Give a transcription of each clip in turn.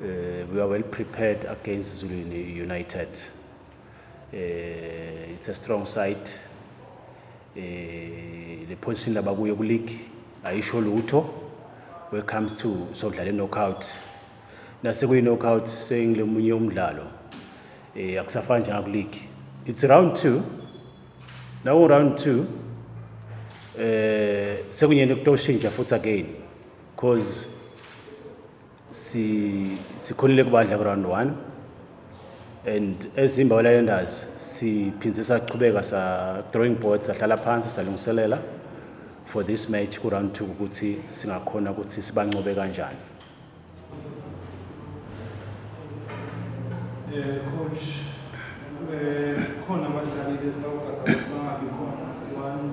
Uh, we are well prepared against Zulu United. Uh, it's a strong side. Uh, the position abakuyo kuleague ayisho lutho when it comes to sodlala knockout. Nase kuyi knockout sengilomunye umdlalo. Eh akusafani njengaku league. It's round 2. Now round 2 eh sekunyeni kutoshintsha futhi again. Cause si sikhulile kubadla ku round 1 and eZimba Waylanders siphindze saqhubeka sa drawing board sahlala phansi salungiselela for this match ku round 2 ukuthi singakhona ukuthi sibancobe kanjani. Eh coach eh khona abadlali besawugatha ukuthi bangabi khona one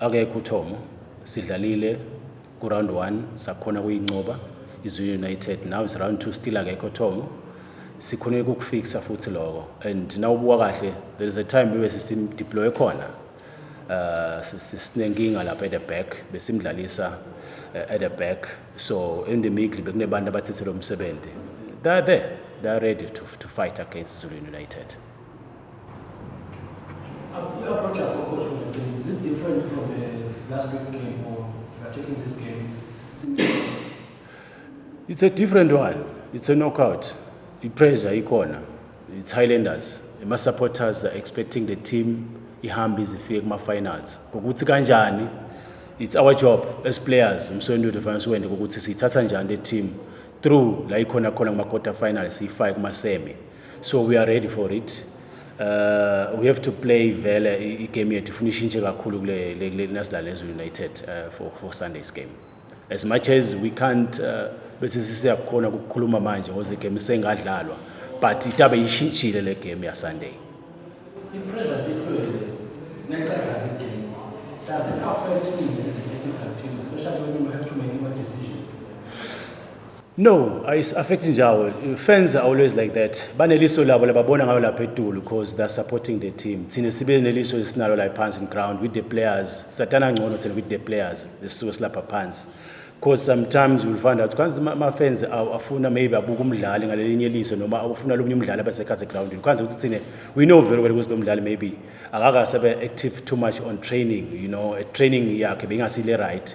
Akekho uThomo, sidlalile kuround one sakhona kuyinqoba izwi United now is round two still akekho Thomo sikhona ukukufixa futhi lokho and nawubuka kahle there is a time bebe sisimdeploy khona uh sinenkinga lapha at the back besimdlalisa uh, at the back so in the middle bekunebantu abathethe lo msebenzi they are there they are ready to, to fight against Zulu United approach our approach for the game is it different from the last week game or you are taking this game it's a different one it's a knockout i-pressure ikhona it's highlanders ama-supporters are expecting the team ihambe izifike kuma-finals ngokuthi kanjani it's our job as players umsweni wethu fanele siwende ukuthi siyithatha njani le team through la ikhona khona kuma-quarter final siyifake kuma-semi so we are ready for it uh, we have to play vele igame yethu ifuna ishintshe kakhulu kule le- le- nasidlale nezulu united uh, for, for sunday's game as much as we can't uh, bese sisiyakhona kukhuluma manje ngoze game isengadlalwa but itabe ishintshile le game yasunday I-pressure tihlwele nesadlala igame does it affect you as a technical team especially when you have to make your decisions No, ayis affect njawo. Fans are always like that. Baneliso labo lababona ngayo lapha etulu because they're supporting the team. Thina sibe neliso esinalo la phansi in ground with the players. Satana ngcono thina with the players. Lesisuke silapha phansi. Because sometimes you'll find out kanzi ama fans afuna maybe abuka umdlali ngalelinye eliso noma afuna lomunye umdlali abasekhathi ground. Kanzi ukuthi thina we know very well ukuthi lo mdlali maybe akakasabe active too much on training, you know, training yakhe bengasile right.